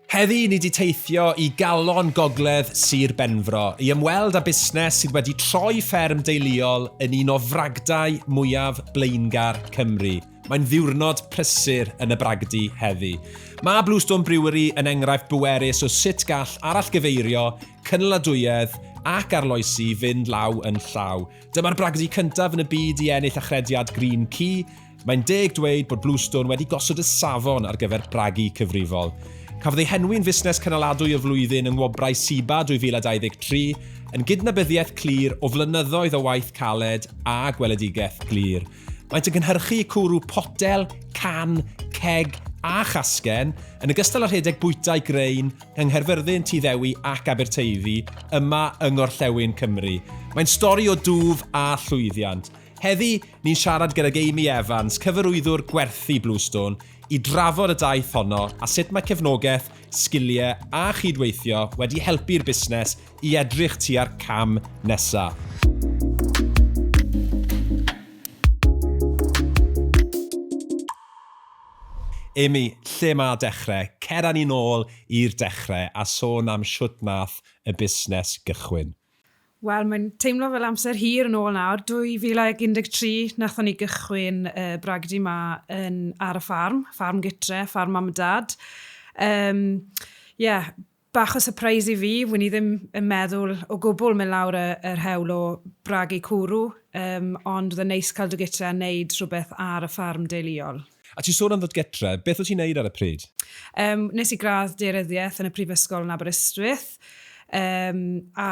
Heddi ni 'di teithio i galon gogledd Sir Benfro i ymweld â busnes sydd wedi troi fferm deuluol yn un o fragdau mwyaf blaengar Cymru. Mae'n ddiwrnod prysur yn y bragdy heddi. Mae Bluestone Brewery yn enghraifft bwerus o sut gall arallgyfeirio, cynaladwyedd ac arloesi fynd law yn llaw. Dyma'r bragdy cyntaf yn y byd i ennill achrediad Green Key, Mae'n deg dweud bod Bluestone wedi gosod y safon ar gyfer bragu cyfrifol. Cafodd ei henwi'n Fusnes Cynaladwy y Flwyddyn yng Ngwobrau SIBA 2023, yn gydnabyddiaeth clir o flynyddoedd o waith caled a gweledigaeth glir. Maent yn cynhyrchu cwrw potel, can, ceg a chasgen, yn ogystal â rhedeg bwytai grain yng Nghaerfyrddin, Tŷ Ddewi ac Aberteifi, yma yng Ngorllewin Cymru. Mae'n stori o dwf a llwyddiant. Heddi, Ni'n siarad gydag Amy Evans, Cyfarwyddwr Gwerthu Bluestone, i drafod y daith honno a sut mae cefnogaeth, sgiliau a chydweithio wedi helpu'r busnes i edrych tua'r cam nesaf. Amy, lle mae dechrau? Cer â ni nôl i'r dechrau a sôn am shwt nath y busnes gychwyn. Wel, mae'n teimlo fel amser hir yn ôl nawr. 2013 nathon ni gychwyn uh, bragdy ma yn, ar y ffarm, ffarm gytre, ffarm mam a dad. Um, yeah, bach o surprise i fi, wyn i ddim yn meddwl o gwbl mynd lawr y, yr hewl o bragu cwrw, um, ond oedd yn neis cael dy gytre a wneud rhywbeth ar y ffarm deuluol. A ti'n sôn am ddod getre, beth wyt ti'n neud ar y pryd? Yym, nes i gradd daearyddiaeth yn y prifysgol yn Aberystwyth, um, a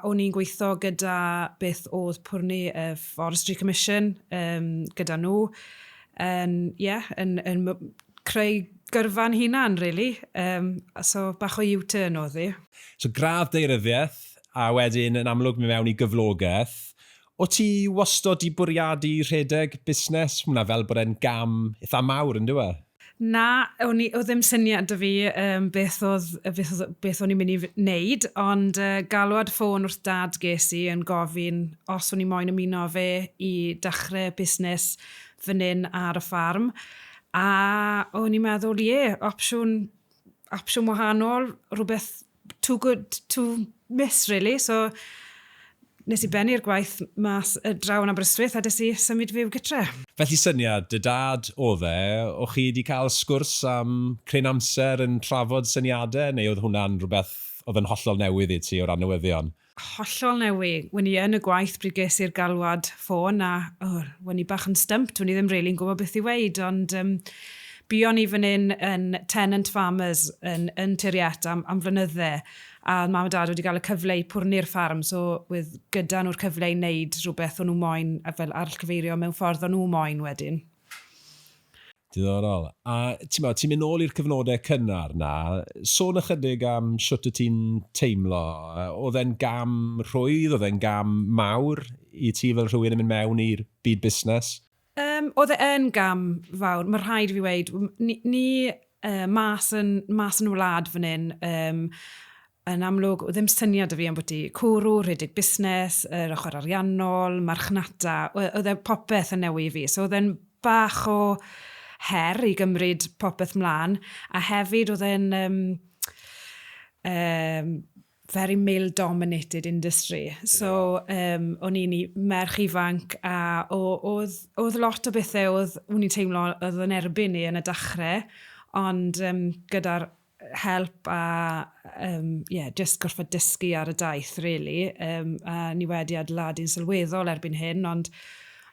o'n i'n gweithio gyda beth oedd pwrni y Forestry Commission um, gyda nhw, yn, yeah, yn, yn creu gyrfa'n hunan, really. Um, so, bach o U-turn oedd hi. So, gradd daearyddiaeth, a wedyn yn amlwg mi mewn i gyflogaeth, O't ti wastod 'di bwriadu rhedeg busnes? Mae hwnna fel bod e'n gam eitha mawr, yn dyw e? Na, o'n i... oedd ddim syniad 'da fi yym beth oedd yy beth oedd... beth o'n i'n mynd i f- wneud, ond yy galwad ffôn wrth Dad ges i yn gofyn os o'n i moyn ymuno â fe i dachre busnes fan 'yn ar y ffarm, a o'n i'n meddwl, ie, opsiwn opsiwn wahanol, rhywbeth too good to miss, really. So, nes i bennu'r gwaith mas y draw yn Aberystwyth a des i symud fyw gytre. Felly syniad dy dad oedd e, o chi wedi cael sgwrs am cryn amser yn trafod syniadau neu oedd hwnna'n rhywbeth oedd yn hollol newydd i ti o ran newyddion? hollol newi. Wen i yn y gwaith bryd ges i'r galwad ffôn a o, wen i bach yn stymped, wen i ddim rili'n gwybod beth i weud, ond um, buon i fan hyn yn tenant farmers yn, yn Tiriet am, am flynydde, a oedd mam a dad wedi cael y cyfle i pwrnu'r ffarm, so oedd gyda nhw'r cyfle i wneud rhywbeth o'n nhw moyn, a fel arllgyfeirio mewn ffordd o'n nhw moyn wedyn. Diddorol. A timod, ti'n mynd nôl i'r cyfnodau cynnar 'na, sôn ychydig am shwt y ti'n teimlo. Oedd e'n gam rhwydd, oedd e'n gam mawr i ti fel rhywun yn mynd mewn i'r byd busnes? Yym, oedd e yn gam fawr, ma' rhaid i fi weud. Ni ni yy mas yn mas yn y wlad fan 'yn, yym, Yn amlwg, oedd ddim syniad 'da fi ambwti cwrw, rhedeg busnes, yr ochr ariannol, marchnata, we- oedd e popeth yn newy i fi. So oedd e'n bach o her i gymryd popeth mlaen, a hefyd oedd e'n um, um, very male dominated industry. So um, o'n i'n merch ifanc a oedd, oedd lot o bethau oedd, o'n i'n teimlo oedd yn erbyn ni yn y dachrau, ond um, gyda'r help a um, yeah, just gorfod dysgu ar y daith, really. Um, a ni wedi adeiladu'n sylweddol erbyn hyn, ond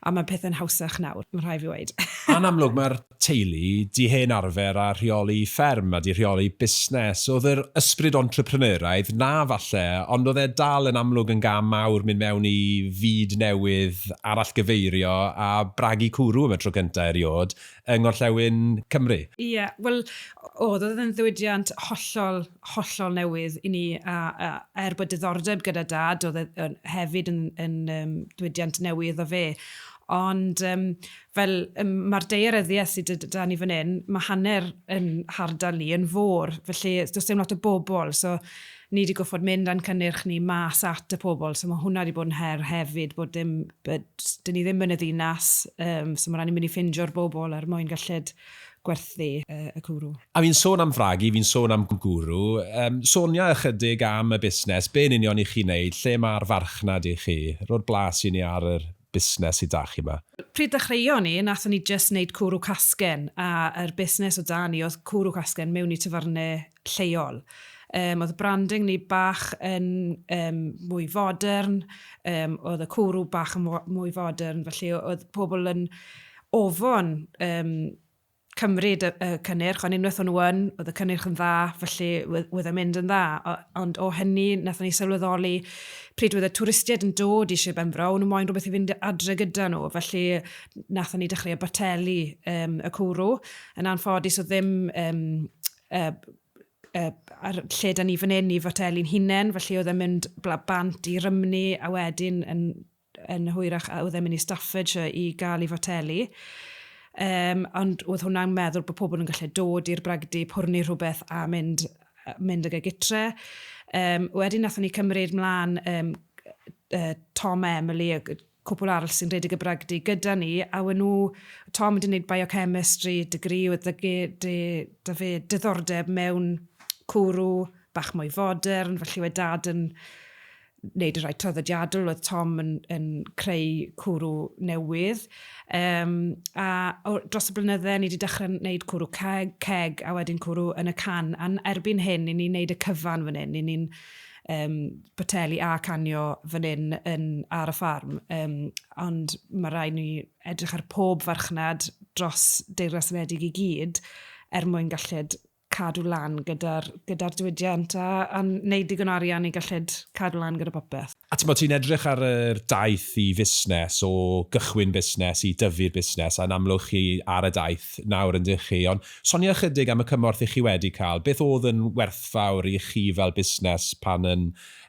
a mae pethau'n hawsach nawr, mae'n rhaid fi weid. Yn amlwg, mae'r teulu di hen arfer a rheoli fferm a di rheoli busnes. Oedd yr ysbryd entrepreneuraidd na falle, ond oedd e dal yn amlwg yn gam mawr mynd mewn i fyd newydd, arallgyfeirio a bragu cwrw am y tro cyntaf eriod, yng Ngorllewin Cymru. Ie, wel, oedd, oedd e'n ddiwydiant hollol, hollol newydd i ni, a, a er bod diddordeb gyda Dad, oedd e yn, hefyd yn, yn um, diwydiant newydd iddo fe. Ond um, fel um, mae'r daearyddiaeth sydd gyda ni fan hyn, mae hanner yn hardal ni yn fôr, felly does dim lot o bobl. So, ni 'di gorffod mynd a'n cynnyrch ni mas at y pobl, so ma' hwnna 'di bod yn her hefyd, bod dim, yy, 'dyn ni ddim yn y ddinas, yym, so ma' raid ni mynd i ffindio'r bobl er mwyn gellid gwerthu y cwrw. A fi'n sôn am fragu, fi'n sôn am gwrw, yym, sonia ychydig am y busnes, be yn union i chi'n neud, lle ma'r farchnad i chi, ro'r blas i ni ar yr busnes sy 'da chi 'ma. Pryd ddechreuon ni, nathon ni jyst neud cwrw casgen, a yr busnes o 'da ni oedd cwrw casgen mewn i tafarne lleol. Um, oedd y branding ni bach yn um, mwy fodern, um, oedd y cwrw bach yn mwy fodern, felly oedd pobl yn ofon um, cymryd y, y cynnyrch, ond unwaith o'n nhw yn, oedd y cynnyrch yn dda, felly oedd e'n mynd yn dda. O, ond o hynny, nath ni sylweddoli pryd oedd y twristiaid yn dod i Sir Benfro, o'n nhw moyn rhywbeth i fynd adre gyda nhw, felly nath ni dechrau y bateli um, y cwrw. Yn anffodus o ddim um, y y a'r lle 'da ni fan 'yn i Foteli'n hunen, felly oedd e'n mynd bla- bant i Rymni a wedyn yn yn hwyrach a oedd e'n mynd i Staffordshire i ga'l 'i foteli. Yym ond oedd hwnna'n meddwl bod pobl yn gallu dod i'r bragdy, pwrnu rhywbeth a mynd yy mynd ag e gytre. Yym wedyn nathon ni cymryd mlan yym yy Tom a Emily ag yy cwpwl arall sy'n rhedeg y bragdy gyda ni, a we' nhw, Tom wedi wneud biochemistry degree oedd 'da ge- de- 'da fe diddordeb mewn cwrw bach mwy fodern, felly we' Dad yn wneud y rhai traddodiadol, oedd Tom yn yn creu cwrw newydd. Yym a o- dros y blynydde ni wedi dechrau wneud cwrw ceg ceg a wedyn cwrw yn y can, a'n erbyn hyn 'yn ni'n wneud y cyfan fan hyn, 'yn ni'n um, boteli a canio fan hyn yn, ar y ffarm. Um, ond mae rhaid ni edrych ar pob farchnad dros Deyrnas Unedig i gyd er mwyn galled cadw lan gyda'r gyda diwydiant a, a wneud digon arian i galled cadw lan gyda popeth. A ti'n bod ti'n edrych ar yr daith i fusnes, o gychwyn busnes i dyfu'r busnes, a'n amlwg chi ar y daith nawr yn dych chi, ond Sonia ychydig am y cymorth i chi wedi cael. Beth oedd yn werthfawr i chi fel busnes pan yn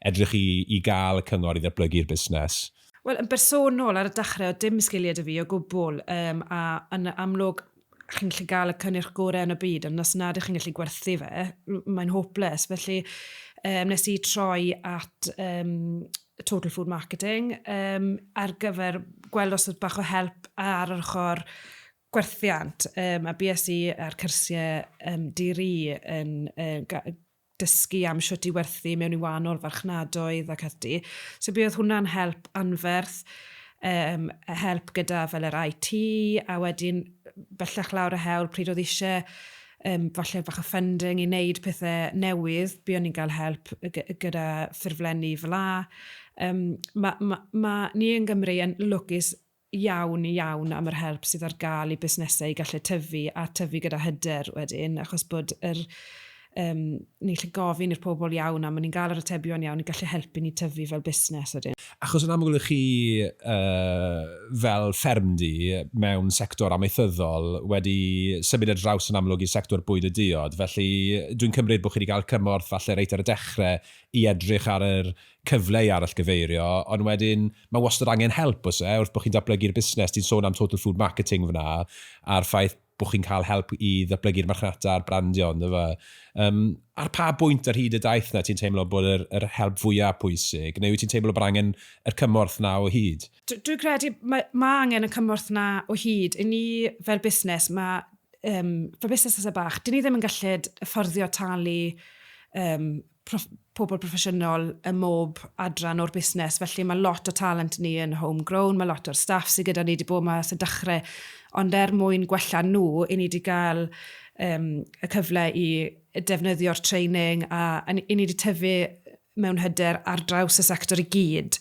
edrych i i gael y cyngor i ddatblygu'r busnes? Wel, yn bersonol, ar y dechrau oedd dim sgiliau 'da fi o gwbl, yym, a yn amlwg chi'n gallu gael y cynnyrch gorau yn y byd, ond os nad ych chi'n gallu gwerthu fe, mae'n hopeless. Felly, um, nes i troi at um, Total Food Marketing um, ar gyfer gweld os oedd bach o help ar yr ochr gwerthiant, um, a BSc a'r cyrsiau um, di-ri yn uh, dysgu am siwt i werthu mewn i wahanol farchnadoedd ac ati. So bydd hwnna'n help anferth, um, help gyda fel yr IT, a wedyn bellach lawr y hewl pryd oedd eisiau um, falle bach o funding i wneud pethau newydd, bu o'n i'n cael help gyda ffurflenni fel la. Um, mae ma, ma, ni yn Gymru yn lwcus iawn iawn am yr help sydd ar gael i busnesau i gallu tyfu a tyfu gyda hyder wedyn, achos bod yr, um, ni'n gallu gofyn i'r pobl iawn am, ni'n gael yr atebion iawn i gallu helpu ni tyfu fel busnes wedyn. Achos yn amlwg chi uh, fel ffermdy mewn sector amaethyddol wedi symud ar draws yn amlwg i'r sector bwyd a diod, felly dwi'n cymryd bod chi wedi cael cymorth falle reit ar y dechrau i edrych ar yr cyfle i arallgyfeirio, ond wedyn mae wastad angen help oes e, wrth bod chi'n datblygu'r busnes, ti'n sôn am Total Food Marketing fan'na, a'r ffaith bod chi'n cael help i ddatblygu'r marchnata a'r brandio yndyfe? Yym, ar pa bwynt ar hyd y daith 'na ti'n teimlo bod yr yr help fwya' pwysig, neu wyt ti'n teimlo bod angen y cymorth 'na o hyd? Dw- Dwi'n credu mae ma' angen y cymorth 'na o hyd. I ni fel busnes, mae um, fel busnesau bach, dyn ni ddim yn gallu fforddio talu um, proff- pobl proffesiynol ym mhob adran o'r busnes, felly mae lot o talent ni yn homegrown, mae lot o'r staff sydd gyda ni wedi bod yma sy'n dechrau, ond er mwyn gwella nhw, i ni wedi cael um, y cyfle i defnyddio'r training a, a ni wedi tyfu mewn hyder ar draws y sector i gyd.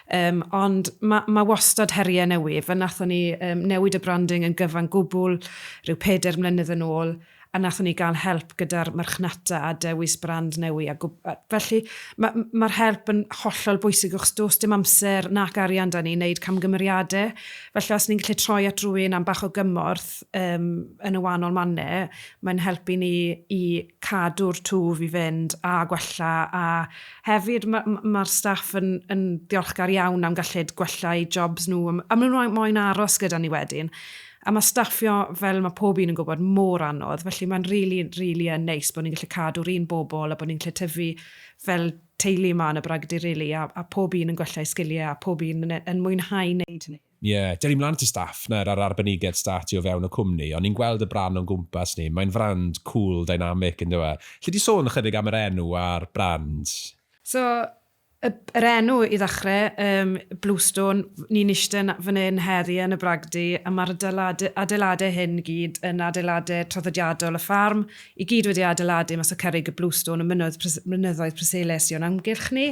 Um, ond mae ma wastad heriau newydd. Fe nathon ni um, newid y branding yn gyfan gwbl rhyw peder mlynedd yn ôl. a nathon ni gael help gyda'r marchnata a dewis brand newi a gwb- a felly ma' m- ma'r help yn hollol bwysig achos do's dim amser nac arian 'da ni i neud camgymeriade, felly os ni'n gallu troi at rywun am bach o gymorth yym yn y wanol mane mae'n helpu ni i cadw'r twf i fynd a gwella a hefyd ma' m- ma'r staff yn yn ddiolchgar iawn am gallid gwella eu jobs nhw a m- a ma' nhw moyn aros gyda ni wedyn. A mae staffio, fel mae pob un yn gwybod, mor anodd, felly mae'n rili, rili yn neis bod ni'n gallu cadw'r un bobl a bod ni'n gallu tyfu fel teulu yma yn y Bragdy rili, a, a pob un yn gwella eu sgiliau a pob un yn, yn mwynhau wneud hynny. Ie, dyn ni mlaen at y staff nawr a'r arbenigedd startio o fewn y cwmni, o'n ni'n gweld y brand o'n gwmpas ni, mae'n frand cŵl, dynamic, yn dyw e? Alli di sôn ychydig am yr enw a'r brand? So, Y, yr enw i ddechrau, yym, Bluestone, ni'n ishte fan hyn heddi yn y bragdy, a ma'r adeilade- adeiladau hyn i gyd yn adeiladau traddodiadol y ffarm, i gyd wedi adeiladu mas o cerrig y bluestone y mynnoedd pres- mynyddoedd Preseli sy o'n amgylch ni.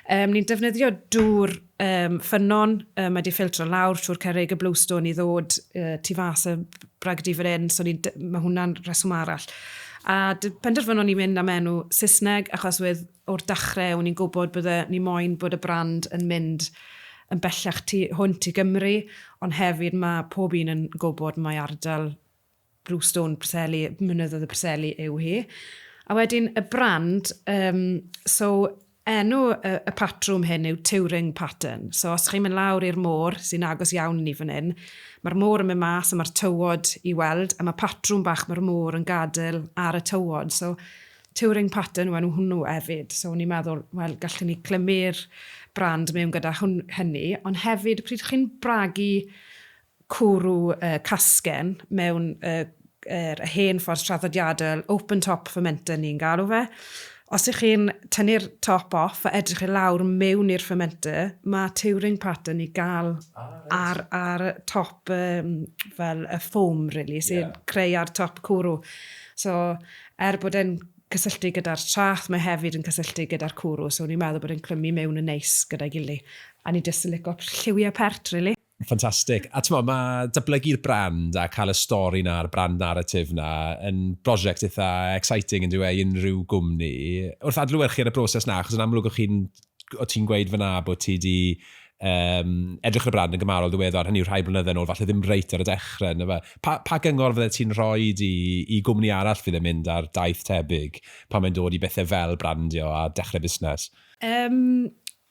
Yym, ni'n defnyddio dŵr, yym, ffynnon, yy, mae 'di ffiltro lawr trwy'r cerrig y bluestone i ddod, yy, tu fas y bragdy fan hyn, so ni'n de- ma' hwnna'n rheswm arall. A d- penderfynon ni mynd am enw Saesneg achos wedd o'r dachrau o'n i'n gwybod bydde ni moyn bod y brand yn mynd yn bellach tu hwnt i Gymru, ond hefyd ma' pob un yn gwybod mai ardal Brewstone, Preseli, Mynyddoedd y Preseli yw hi. A wedyn y brand, um, so enw y, y patrwm hyn yw Turing Pattern. So os chi'n mynd lawr i'r môr, sy'n agos iawn ni fan hyn, mae'r môr yn mynd mas a mae'r tywod i weld, a mae patrwm bach mae'r môr yn gadael ar y tywod. So Touring Pattern yw enw hwnnw hefyd. So o'n i'n meddwl, wel, gallwn ni clymu'r brand mewn gyda hwn, hynny, ond hefyd, pryd chi'n bragu cwrw uh, casgen mewn uh, er, y hen ffordd traddodiadol, open top fermenter ni'n galw fe, os ych chi'n tynnu'r top off a edrych i lawr mewn i'r fermenter, mae touring pattern i gael ah, right. ar, ar top um, fel y ffom, really, sy'n yeah. creu ar top cwrw. So, Er bod e'n cysylltu gyda'r traeth, mae hefyd yn cysylltu gyda'r cwrw, so o'n i'n meddwl bod e'n clymu mewn yn neis gyda'i gily. A o'n i jyst yn lico lliwiau pert rili. Ffantastig. A t'mod, ma' datblygu'r brand a cael y stori 'na a'r brand narrative 'na yn brosiect eitha exciting yndyw e i unrhyw gwmni. Wrth adlewyrchu ar y broses 'na, achos yn amlwg o'ch chi'n o ti'n gweud fyna bod ti wedi um, edrych ar y brand yn gymarol ddiweddar, hynny yw rhai blynyddoedd yn ôl, falle ddim reit ar y dechrau. Yna fe. Pa, pa gyngor fydde ti'n rhoi i, i gwmni arall fydd yn mynd ar daith tebyg pan mae'n dod i bethau fel brandio a dechrau busnes? Um,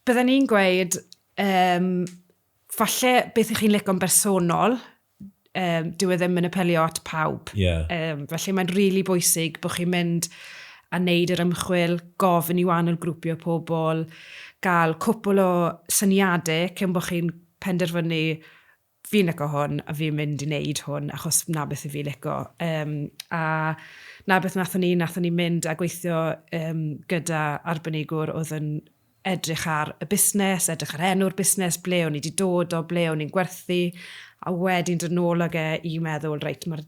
Byddwn ni'n gweud, um, falle beth ych chi'n lico'n bersonol, um, dyw e ddim yn apelio at pawb. Yeah. Um, felly mae'n rili really bwysig bod chi'n mynd a wneud yr ymchwil, gofyn i wahanol grwpio pobl, gael cwpl o syniadau cyn bod chi'n penderfynu fi'n licio hwn a fi'n mynd i wneud hwn achos na beth i fi licio. Um, a na beth nathon ni, nathon ni mynd a gweithio um, gyda arbenigwr oedd yn edrych ar y busnes, edrych ar enw'r busnes, ble o'n i wedi dod o, ble o'n i'n gwerthu, a wedyn dod nôl ag e i meddwl, reit, mae'r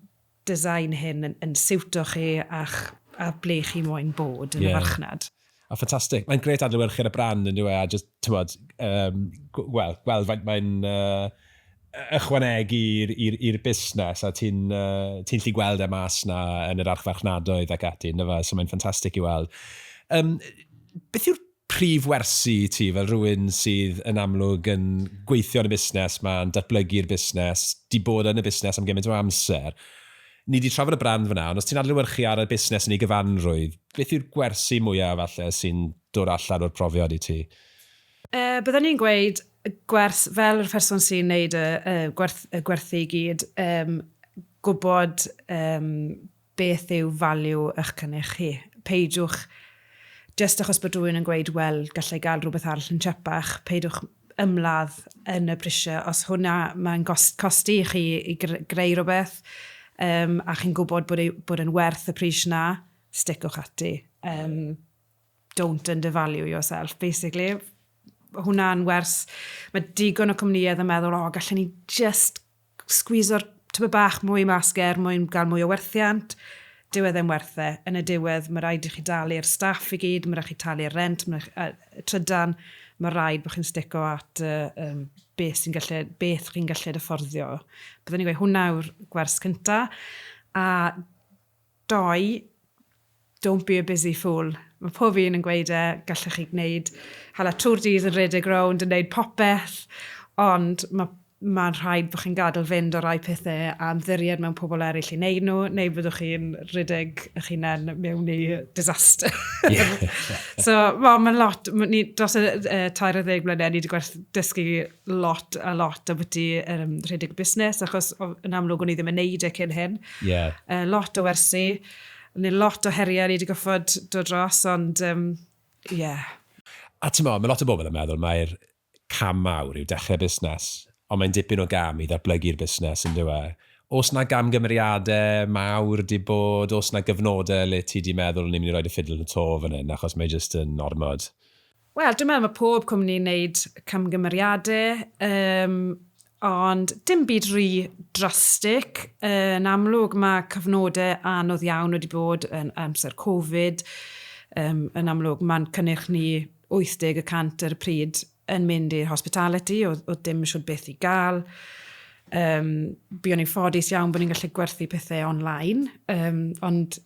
design hyn yn, yn siwto chi a'ch, a ble chi moyn bod yn yeah. y farchnad. A ffantastig. Mae'n gret adlywyrchu'r y brand yn dweud, a just, ti'n bod, um, gweld, gweld faint mae'n... Uh, ychwanegu i'r busnes, a ti'n gallu gweld e mas 'na yn yr archfarchnadoedd ac ati, yn dyfe, so mae'n ffantastig i weld. Beth yw'r prif wersi i ti, fel rhywun sydd yn amlwg yn gweithio yn y busnes 'ma, yn datblygu'r busnes, 'di bod yn y busnes am gymaint o amser? Ni 'di trafod y brand fan'na, ond os ti'n adlewyrchu ar y busnes yn ei gyfanrwydd, beth yw'r gwersi mwya, falle, sy'n dod allan o'r profiad i ti? Yy bydden ni'n gweud yy gwers fel yr person sy'n neud y y gwerth y gwerthu i gyd yym gwbod yym beth yw value ych cynnych chi. Peidiwch jyst achos bod rhywun yn gweud wel gallai ga'l rhywbeth arall yn tsiepach peidiwch ymladd yn y prisie os hwnna ma'n gos- costi i chi i gr- greu rhywbeth yym a chi'n gwbod bod ei bod e'n werth y pris 'na sticwch ati yym. don't undervalue yourself, basically. Hwna'n wers, mae digon o cwmnïedd yn meddwl, o, gallen ni just sgwiso'r tyfu bach mwy mas ger mwyn gael mwy o werthiant. Dyw e ddim werth e. Yn y diwedd, mae rhaid i chi dalu'r staff i gyd, mae rhaid i chi talu'r rent, mae rhaid, uh, trydan, mae rhaid bod chi'n stico at uh, um, beth, sy'n gallu, beth chi'n gallu dy fforddio. Byddwn ni'n gweud hwnna yw'r gwers cyntaf. A Doi, Don't be a busy fool. Mae pob un yn gweud e, gallech chi gwneud, hala Tour Dees yn rhedeg rownd yn neud popeth, ond ma, mae'n rhaid bod chi'n gadel fynd o rai pethe a ymddiried mewn pobl eraill i neud nhw, neu byddwch chi'n rhedeg eich hunain mewn i disaster. so, wel, mae'n lot, ni, dros y uh, tair o ddeg mlynedd, ni wedi gwerth dysgu lot a lot ambiti um, rhedeg busnes, achos yn amlwg o'n i ddim yn neud e cyn hyn. Yeah. Uh, lot o wersi, neu lot o heriau ni wedi goffod dod dros, ond um, yeah. A ti'n meddwl, mae lot o bobl yn meddwl mae'r cam mawr yw dechrau busnes, ond mae'n dipyn o gam i ddatblygu'r busnes yn dywe. Os na gam gymeriadau mawr di bod, os na gyfnodau le ti di meddwl ni'n mynd i roed y ffidl yn y to fan hyn, achos mae jyst yn ormod. Wel, dwi'n meddwl mae pob cwmni'n wneud camgymeriadau, um, ond dim byd rhy drastig. Yn amlwg, mae cyfnodau anodd iawn wedi bod yn amser Covid. Um, yn amlwg, mae'n cynnyrch ni 80 y cant ar y pryd yn mynd i'r hospitality, oedd, oedd dim siwr beth i gael. Um, Byddwn ni'n ffodus iawn bod ni'n gallu gwerthu pethau online, um, ond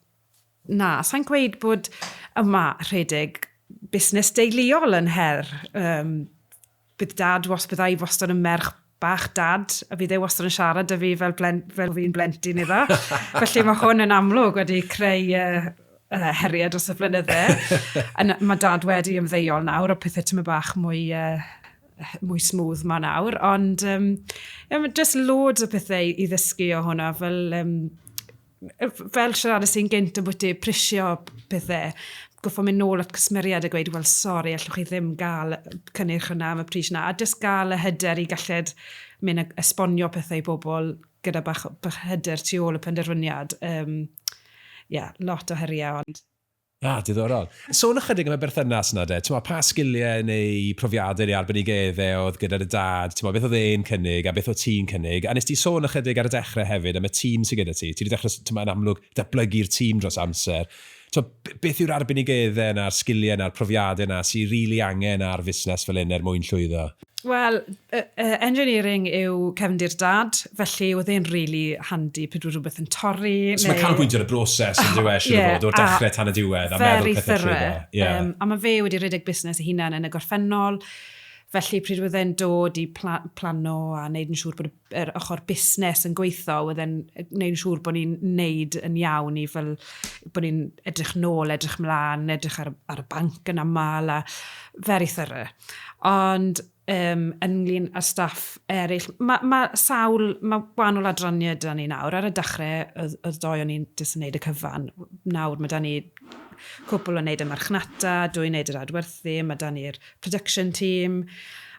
Na, sa'n gweud bod yma rhedeg busnes deuluol yn her. Um, bydd dad, was, byddai wastad yn merch bach dad, a bydd e wastad yn siarad â fi fel, blen, fel fi'n blentyn iddo. Felly mae hwn yn amlwg wedi creu uh, uh, heriau dros y blynydde. mae dad wedi ymddeiol nawr o pethau tyma bach mwy uh, mwy smooth ma nawr, ond um, um, just loads o pethau i ddysgu o hwnna, fel um, fel siaradus i'n gynt o bwyty prisio pethau, goffo mynd nôl at cwsmeriad a gweud, wel, sori, allwch chi ddim gael cynnyrch hwnna am y pris yna, a dys gael y hyder i galled mynd a esbonio pethau i bobl gyda bach, bach hyder tu ôl y penderfyniad. Um, yeah, lot o heriau, ond Ah, diddorol. Sôn ychydig am y berthynas yna de, t'mo' pa sgiliau neu profiadau neu arbenigedde oedd gyda dy dad, t'mo' beth oedd e'n cynnig a beth o't ti'n cynnig? A nes di sôn ychydig ar y dechre hefyd am y tîm sy gyda ti, ti 'di dechre s- t'mo' yn amlwg datblygu'r tîm dros amser. T'mo' b- beth yw'r arbenigedde yna a'r sgiliau yna a'r profiadau yna sy rili angen ar fusnes fel 'yn er mwyn llwyddo? Wel, e, e, engineering yw cefndir dad, felly oedd e'n really handy pryd oedd rhywbeth yn torri. So neu... mae canolbwyntio ar y broses yn dweud, siwr yeah, fod, o'r dechrau tan y diwedd, a meddwl pethau llwyddo. Yeah. Um, a mae fe wedi rhedeg busnes ei hunan yn y gorffennol, felly pryd oedd e'n dod i pla plano a wneud yn siŵr bod y yr ochr busnes yn gweithio, oedd e'n gwneud yn siŵr bod ni'n neud yn iawn i fel, bod ni'n edrych nôl, edrych mlaen, edrych ar, ar y banc yn aml, a very thorough. Ond um, ynglyn â staff eraill, mae ma sawl, mae gwahanol adrannau da ni nawr. Ar y dechrau, oedd, oedd doi o'n i'n jyst yn neud y cyfan. Nawr, mae da ni cwpl yn neud y marchnata, dwi'n neud yr adwerthu, mae da ni'r production team,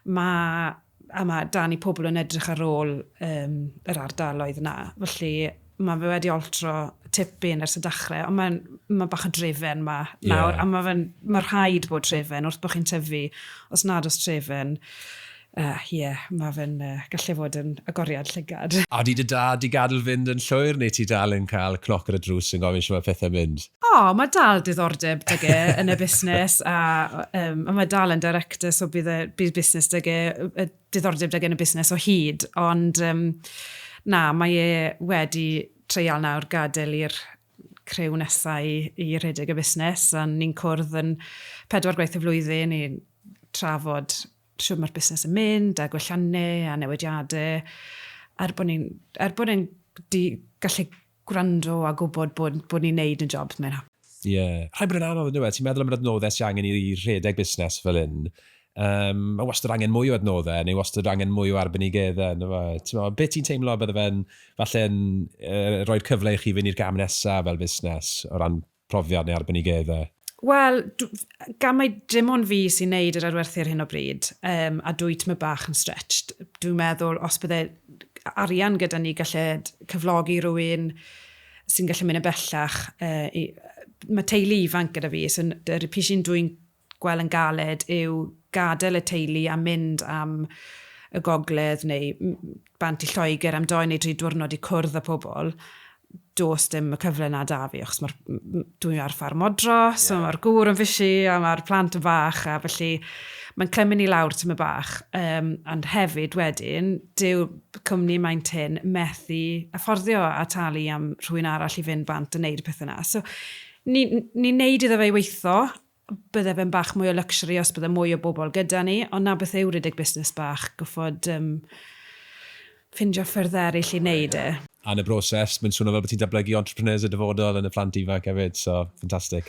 mae A mae dan i pobl yn edrych ar ôl um, yr ardaloedd yna. Felly mae fe wedi oltro tipyn ers y dechrau, ond mae'n ma bach o drefen ma nawr, yeah. a mae ma rhaid bod trefen wrth bod chi'n tyfu, os nad os trefen, ie, uh, yeah, mae fe'n uh, gallu fod yn agoriad llygad. A di dy dad i gadw fynd yn llwyr, neu ti dal yn cael cnoc ar y drws yn gofyn sy'n mae pethau mynd? O, oh, mae dal diddordeb dyge yn y busnes a um, mae dal yn director so bydd y bydd busnes dyge, y diddordeb dyge yn y busnes o hyd. Ond um, na, mae e wedi treial nawr gadael i'r crew nesau i, i redeg y busnes a ni'n cwrdd yn pedwar gwaith y flwyddyn i trafod siwr mae'r busnes yn mynd a gwelliannau a newidiadau er bod ni'n er bod ni'n gallu gwrando a gwybod bod, bod ni'n neud yn jobs, mae'n hawdd. Ie. Rhaid bod yn anodd yndyw e? Ti'n meddwl am yr adnoddau sy angen i rhedeg busnes fel hyn. Yym, mae wastad angen mwy o adnoddau, neu wastad angen mwy o arbenigeddau, yndyw e? Ti'n meddwl, beth ti'n teimlo bydde fe'n, falle'n, yy, rhoi'r cyfle i chi fynd i'r gam nesaf fel busnes, o ran profiad neu arbenigeddau? Wel, gan mai dim ond fi sy'n neud yr adwerthu ar hyn o bryd, um, a dwy tyma bach yn stretched, dwi'n meddwl os bydde arian gyda ni gallu cyflogi rhywun sy'n gallu mynd yn bellach, uh, i, mae teulu ifanc gyda fi, so yr pisi'n dwi'n gweld yn galed yw gadael y teulu a mynd am y gogledd neu bant i Lloegr am doi neu dri diwrnod i cwrdd â pobl, does dim y cyfle na da fi, achos mae'r... dwi ar ffarm modro, so mae'r gŵr yn fysi a mae'r plant yn fach, a felly mae'n clymu ni lawr tymor bach. Um, ond hefyd wedyn, dyw cwmni Maen Tyn methu afforddio a talu am rhywun arall i fynd bant yn neud y pethau yna. So, ni'n ni neud iddo fe weitho, bydde fe'n bach mwy o luxury os bydde mwy o bobl gyda ni, ond na beth yw rhedeg busnes bach, gorfod um, ffindio ffyrdd eraill i wneud e. A yn y broses, mae'n swnio fel bod ti'n datblygu entrepreneurs y dyfodol yn y plant ifanc hefyd, so ffantastig.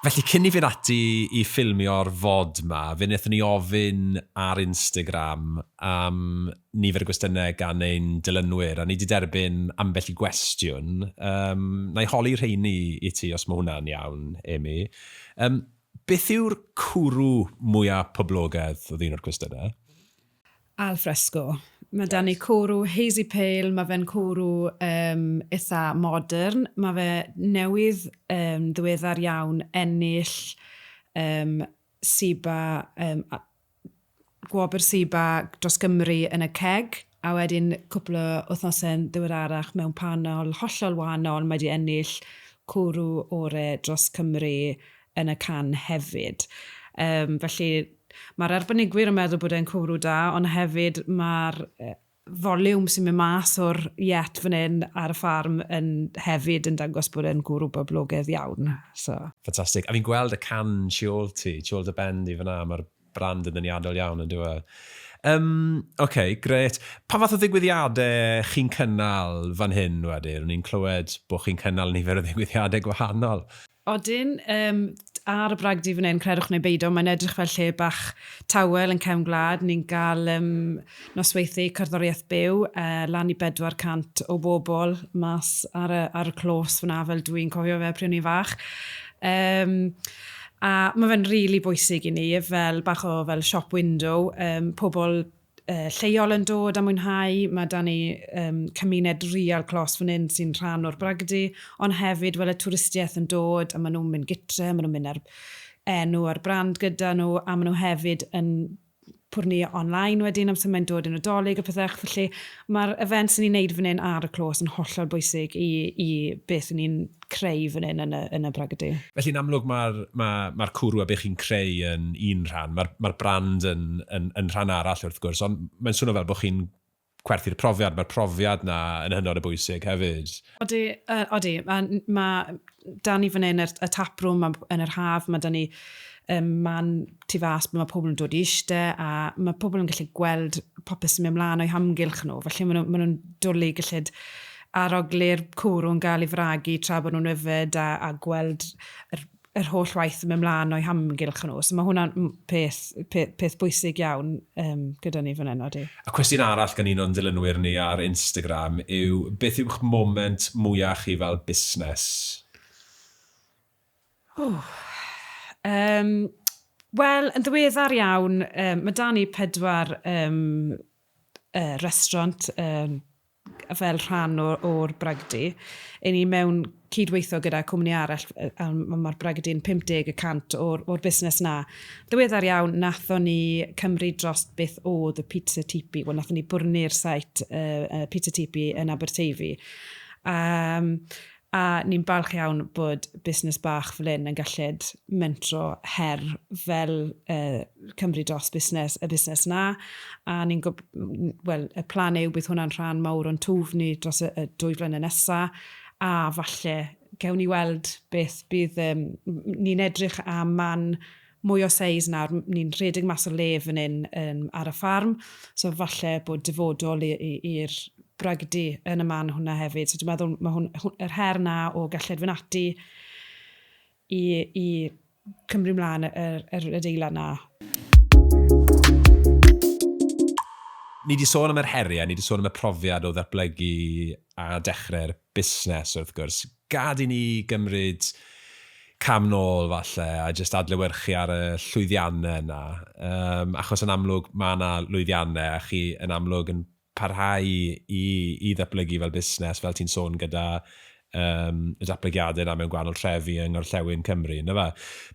Felly cyn i fynd ati i ffilmio'r fod ma, fe wnaethon ni ofyn ar Instagram am nifer y gwestiynau gan ein dilynwyr, a ni 'di derbyn ambell i gwestiwn. Yym, na i holi rheini i ti, os mae hwnna'n iawn, Amy. Yym, beth yw'r cwrw mwya poblogedd, oedd un o'r cwestiynau? Al fresco. Mae 'da ni cwrw hazy pale, mae fe'n cwrw um, eitha modern, mae fe newydd um, ddiweddar iawn ennill um, SIBA um, Gwobr SIBA dros Gymru yn y CCEG, a wedyn cwpl o wythnosau'n ddiweddarach mewn panel hollol wahanol, mae 'di ennill cwrw ore dros Cymru yn y can hefyd. Yym, felly, ma'r arbenigwyr yn meddwl bod e'n cwrw da, ond hefyd ma'r yy volume sy'n mynd mas o'r yet fan hyn ar y ffarm yn hefyd yn dangos bod e'n gwrw boblogaidd iawn, so. Ffantastig. A fi'n gweld y can tu ôl ti, tu ôl dy ben di fan'na, mae'r brand yn ddeniadol iawn, yn dyw e? Yym, ocê, grêt. Pa fath o ddigwyddiadau chi'n cynnal fan hyn wedyn? O'n i'n clywed bod chi'n cynnal nifer o ddigwyddiadau gwahanol. Odyn, yym, ar y bragdy fan hyn, credwch neu beidio, mae'n edrych fel lle bach tawel yn cefn gwlad. Ni'n cael um, nosweithiau cerddoriaeth byw, uh, lan i 400 o bobl mas ar y, ar y clos fyna, fel dw i'n cofio fe pryd o'n i'n fach. Um, a mae fe'n rili really bwysig i ni, fel bach o fel shop window, um, pobl lleol yn dod a mwynhau, mae 'da ni yym cymuned real clos fan hyn sy'n rhan o'r bragdy, ond hefyd wel y twristiaeth yn dod a maen nhw'n mynd gytre, maen nhw'n mynd a'r enw a'r brand gyda nhw a maen nhw hefyd yn pwrnu online wedyn amser mae'n dod y Nadolig a pethach felly, Mae'r events yn ni'n neud fan hyn ar y clôs yn hollol bwysig i i beth ni'n creu fan hyn yn y yn y Bragdy. Felly'n amlwg mae'r ma mae'r cwrw a be chi'n creu yn un rhan, mae'r mae'r brand yn yn yn rhan arall wrth gwrs, ond mae'n swno fel bod chi'n gwerthu'r profiad, mae'r profiad 'na yn hynod o bwysig hefyd. Odi, uh, odi. Mae ma, da ni fan hyn, y taprwm yn yr haf, mae da ni um, man tu fas, mae pobl yn dod i eiste, a mae pobl yn gallu gweld popeth sy'n mynd mlaen o'i hamgylch nhw. Felly maen nhw'n ma nhw dwlu gallid arogli'r cwrw'n gael ei fragu tra bod nhw'n yfed a, a gweld yr yr holl waith yn mynd mlaen o'i hamgylch nhw. So mae hwnna'n peth, peth, peth bwysig iawn um, gyda ni fan hyn, odi. A cwestiwn arall gan un o'n dilynwyr ni ar Instagram yw, beth yw'ch moment mwyaf chi fel busnes? Oh, um, Wel, yn ddiweddar iawn, um, mae da ni pedwar um, y restaurant yym fel rhan o o'r bragdy. I ni mewn cyd-weithio gyda cwmni arall yy a ma' ma'r bragdy'n 50 y cant o'r o'r busnes 'na. Ddiweddar iawn nathon ni cymryd dros beth o'dd y Pizza Tipi wel nathon ni bwrni'r site yy yy Pizza Tipi yn Aberteifi a yym A ni'n falch iawn bod busnes bach fel hyn yn galled mentro her fel Cymru Dros Busnes, y busnes 'na. A ni'n gob- wel, y plan yw bydd hwnna'n rhan mawr o'n twf ni dros y y dwy flynedd nesa, a falle gewn ni weld beth bydd yym... Ni'n edrych am man mwy o seis nawr, ni'n rhedeg mas o le fan hyn yn ar y ffarm, so falle bod dyfodol i i i'r bragdy yn y man hwnna hefyd, so dwi'n meddwl ma' hwn hw- yr her 'na o gellid fyn' ati i i cymryd mlan y yr yr adeilad 'na. Ni 'di sôn am yr herie, ni 'di sôn am y profiad o ddatblygu a dechre'r busnes wrth gwrs, Gad i ni gymryd cam nôl falle a jyst adlewyrchu ar y llwyddiannau yna, yym, achos yn amlwg mae yna lwyddiannau a chi yn amlwg yn parhau i i ddatblygu fel busnes, fel ti'n sôn gyda yym y datblygiadau yna mewn gwahanol trefi yng ngorllewin Cymru, yndyfe?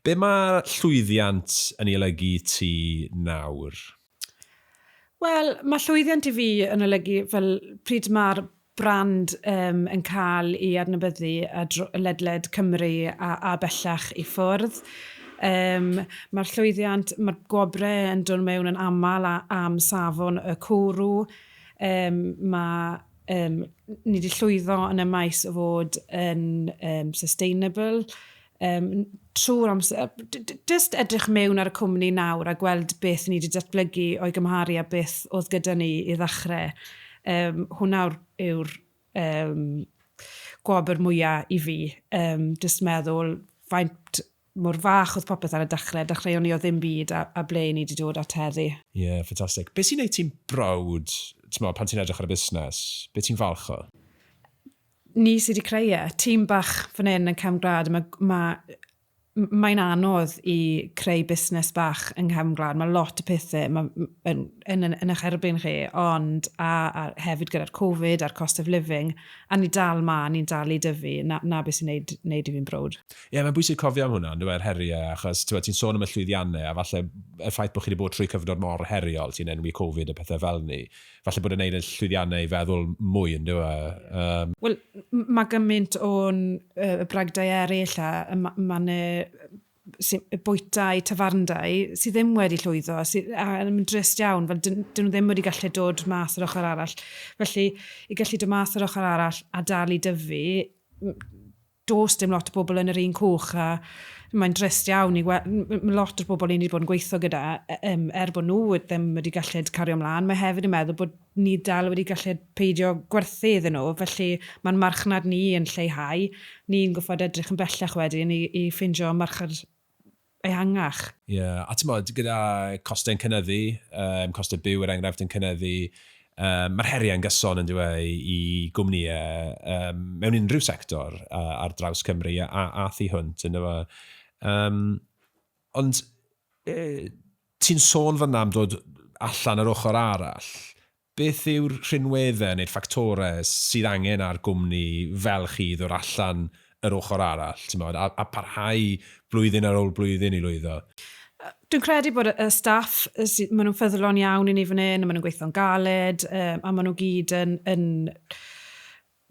Be mae llwyddiant yn ei olygu i ti nawr? Wel, mae llwyddiant i fi yn olygu fel pryd mae'r brand um, yn cael ei adnabyddu a ledled Cymru a, a bellach i ffwrdd. Um, mae'r llwyddiant, mae'r gwobrau yn dod mewn yn aml a, am safon y cwrw. Um, mae um, ni wedi llwyddo yn y maes o fod yn um, sustainable, um, trwy'r amser, just edrych mewn ar y cwmni nawr a gweld beth ni wedi datblygu o'i gymharu a beth oedd gyda ni i ddechrau. Um, hwna yw'r um, gwobr mwyaf i fi. Um, just meddwl faint mor fach oedd popeth ar y dechrau. Dechreuon ni o ddim byd a, a ble ni wedi dod at heddi. Ie, yeah, ffantastig. Beth sy'n gwneud ti'n brawd, ti'n meddwl, pan ti'n edrych ar y busnes? Beth ti'n falch o? Ni sydd wedi creu e. Tîm bach fan hyn yn Cefn Gwlad, mae, mae, mae'n anodd i creu busnes bach yng Nghefn Gwlad. Mae lot o pethau mae, yn, yn, yn, yn eich erbyn chi, ond a, a hefyd gyda'r Covid a'r cost of living, a ni dal ma, ni'n dal i dyfu, na, na beth sy'n neud, neud i fi'n brwd. Ie, yeah, mae'n bwysig cofio am hwnna, dweud, heriau, achos ti'n ti sôn am y llwyddiannau, a falle y ffaith bod chi wedi bod trwy cyfnod mor heriol, ti'n enwi Covid a pethau fel ni, falle bod e'n neud yn llwyddiannau i feddwl mwy, yn dyw e? Um... Wel, mae gymaint o'n uh, bragdau eraill a mae ma yna bwytau, tafarndau, sydd ddim wedi llwyddo, sydd, a yn drist iawn, fel dyn, dyn nhw ddim wedi gallu dod mas yr ochr arall. Felly, i gallu dod mas yr ochr arall a dal i dyfu, Does dim lot o bobl yn yr un cwch a mae'n drist iawn i weld, mae lot o'r bobl i ni wedi bod yn gweithio gyda, er bod nhw ddim wedi gallu cario mlaen, mae hefyd yn meddwl bod ni dal wedi gallu peidio gwerthu iddyn nhw, felly mae'n marchnad ni yn lleihau. Ni'n gorfod edrych yn bellach wedyn i ffeindio marchnad ehangach. Ie, a timod, gyda costau'n cynyddu, yym, costau byw er enghraifft yn cynyddu, yym, mae'r heriau yn gyson yn dyw e i gwmnïau yym, mewn unrhyw sector a, ar draws Cymru a, a, a thu hwnt yn dyw e. Um, ond e, ti'n sôn fyna am dod allan yr ochr arall, Beth yw'r rhinweddau neu'r ffactorau sydd angen ar gwmni fel chi i ddod allan yr ochr arall, timod, a a parhau blwyddyn ar ôl blwyddyn i lwyddo? Dwi'n credu bod y y staff yy sy- ma' nhw'n ffyddlon iawn i ni fan hyn, a ma' nhw'n gweithio'n galed, yy a ma' nhw gyd yn yn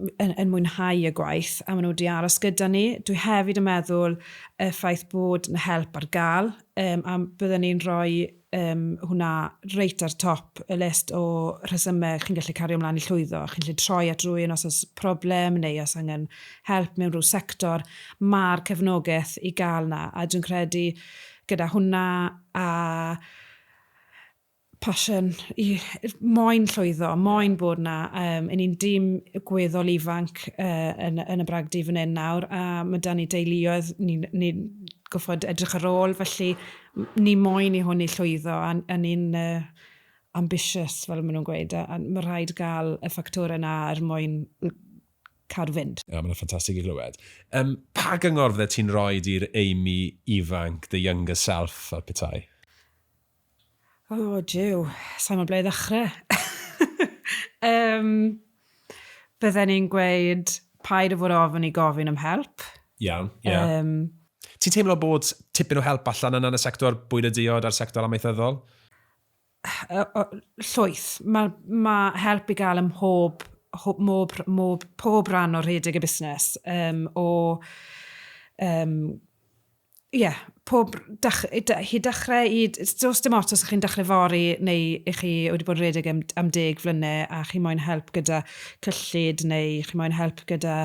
yn, yn mwynhau y gwaith a maen nhw wedi aros gyda ni. Dwi hefyd yn meddwl y ffaith bod na help ar gael, um, a byddwn ni'n rhoi um, hwnna reit ar top y list o rhesymau chi'n gallu cario ymlaen i llwyddo. Chi'n gallu troi at rwy'n os oes problem neu os angen help mewn rhyw sector. Mae'r cefnogaeth i gael na, a dwi'n credu gyda hwnna a passion, i, moyn llwyddo, moyn bod na. Um, yn ni'n dîm gweddol ifanc uh, yn, yn y bragdy fan hyn nawr, a mae dan ni deuluoedd, ni'n ni, goffod edrych ar ôl, felly ni moyn i hwn i llwyddo, a, a ni'n uh, ambitious, fel maen nhw'n gweud, a, a mae rhaid gael y ffactor yna er mwyn cadw fynd. Ie, yeah, mae'n ffantastig i glywed. Um, pa gyngor fydde ti'n rhoi i'r Amy ifanc, the younger self, fel petai? O, jiw, sa'n gwybod ble i ddechrau. um, bydden ni'n gweud paid o fod ofyn i gofyn am help. Iawn, ie. Yeah. Um, Ti'n teimlo bod tipyn o help allan yna yn y sector bwyd y diod a'r sector amaethyddol? Llwyth. Mae ma help i gael ym mhob, mob, mob, pob rhan o rhedeg y busnes. Um, o um, ie, yeah, pob dach, chi dechrau i... Does dim ots os ydych chi'n dechrau fori neu ych chi wedi bod yn redeg am, am deg flynau a chi moyn help gyda cyllid neu chi moyn help gyda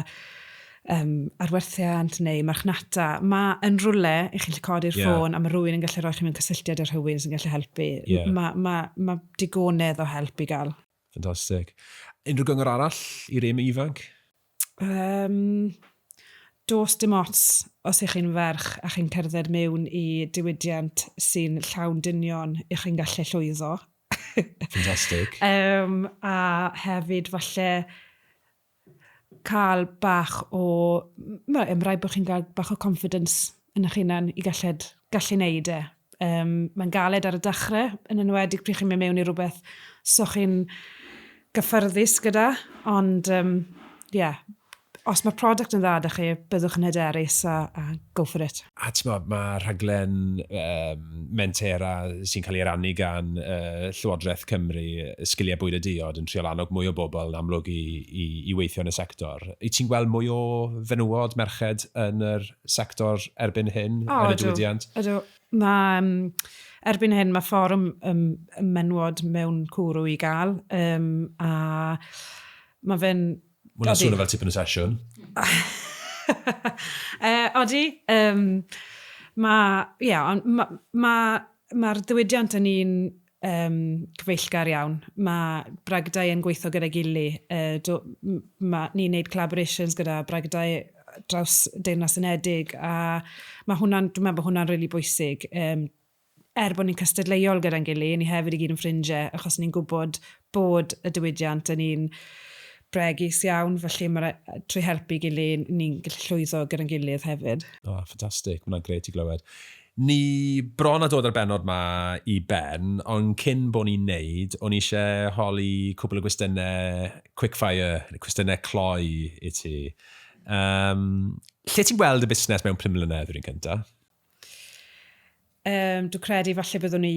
um, arwerthiant neu marchnata. Mae yn rhywle i chi'n codi'r yeah. ffôn a mae rhywun yn gallu rhoi chi mewn cysylltiad â rhywun sy'n gallu helpu. Yeah. Mae ma, ma digonedd o help i gael. Fantastic. Unrhyw gyngor arall i rym ifanc? Yym, does dim ots os y'ch chi'n ferch a chi'n cerdded mewn i diwydiant sy'n llawn dynion, y'ch chi'n gallu llwyddo. Fantastic. Yym, a hefyd falle cael bach o... ma- ma' raid bod chi'n cael bach o confidence yn eich hunan i galled, gallu wneud e. Yym, mae'n galed ar y dachrau, yn enwedig pryd chi'n mynd mewn i rywbeth 'so chi'n gyffyrddus gyda, ond yym, ie, os mae'r product yn dda 'da chi, byddwch yn hyderus a, a go for it. A timod, mae rhaglen um, Mentera sy'n cael ei rannu gan uh, Llywodraeth Cymru, Sgiliau Bwyd a Diod, yn triol annog mwy o bobl yn amlwg i, i, i weithio yn y sector. I ti'n gweld mwy o fenywod, merched yn yr sector erbyn hyn, o, yn y diwydiant? Ydw, mae... Um, erbyn hyn mae fforwm um, menywod mewn cwrw i gael, um, a mae fe'n Mae hwnna'n swnio fel tipyn o sesiwn. uh, odi, um, mae, ie, yeah, ond mae'r ma, ma ddiwydiant yn un um, cyfeillgar iawn. Mae bragdau yn gweithio gyda gili. Uh, ni'n neud collaborations gyda bragdau draws Deyrnas Unedig a mae hwnna'n, dwi'n meddwl bod hwnna'n rili really bwysig. Um, er bod ni'n cystadleuol gyda'n gily, ni hefyd i gyd yn ffrindie, achos ni'n gwybod bod y diwydiant yn un bregus iawn, felly mae'r, trwy helpu gily, ni'n gallu llwyddo gyda'n gilydd hefyd. O, ffantastig, mae hwnna'n gret i glywed. Ni bron a dod â'r bennod ma i ben, ond cyn bod ni'n neud, o'n i eisiau holi cwbl o gwestiynau quickfire, neu cwestiynau cloi i ti. Um, lle ti'n gweld y busnes mewn pum mlynedd, rwy'n cyntaf? Um, dwi'n credu falle byddwn ni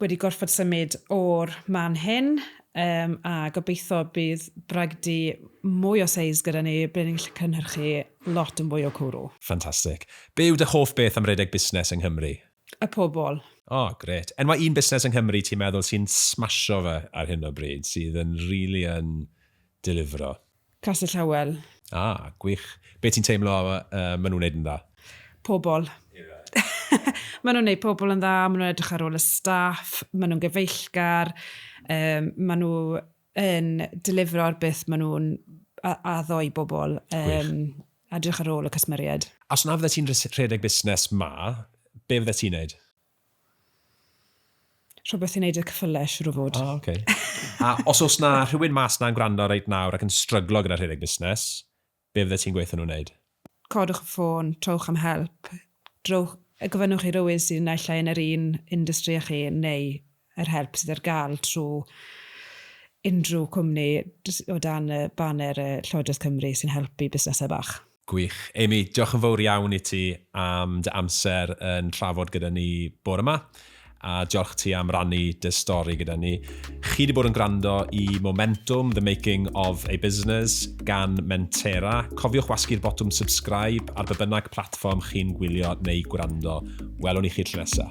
wedi gorfod symud o'r man hyn um, a gobeithio bydd bragdy mwy o seis gyda ni ble ni'n gallu cynhyrchu lot yn fwy o cwrw. Ffantastig. Be yw dy hoff beth am redeg busnes yng Nghymru? Y pobl. O, oh, gret. Enwa un busnes yng Nghymru ti'n meddwl sy'n smasho fe ar hyn o bryd, sydd yn rili really yn delifro? Castell Howell. Ah, gwych. Be ti'n teimlo uh, maen nhw'n neud yn dda? Pobl. maen nhw'n neud pobl yn dda, maen nhw'n edrych ar ôl y staff, maen nhw'n gyfeillgar, um, maen nhw yn delifro ar beth maen nhw'n addo i bobl. Um, edrych ar ôl y cysmeriaid. Os na fydde ti'n rhedeg busnes ma, be fydde ti'n neud? Rhywbeth i wneud y cyffylau, siwr o fod. O, oce. A os oes na rhywun mas na'n gwrando reit nawr ac yn stryglo gyda rhedeg busnes, be fyddet ti'n gweithio nhw wneud? Codwch y ffôn, trowch am help, drowch, gofynnwch i rywun sydd naill ai yn yr un industry â chi neu yr help sydd ar gael trwy unrhyw cwmni o dan y baner Llywodraeth Cymru sy'n helpu busnesau bach. Gwych. Amy, diolch yn fawr iawn i ti am dy amser yn trafod gyda ni bore 'ma, a diolch ti am rannu dy stori gyda ni. Chi wedi bod yn gwrando i Momentum, The Making of a Business gan Mentera. Cofiwch wasgu'r botwm subscribe ar be bynnag platfform chi'n gwylio neu gwrando. Welwn i chi tro nesa.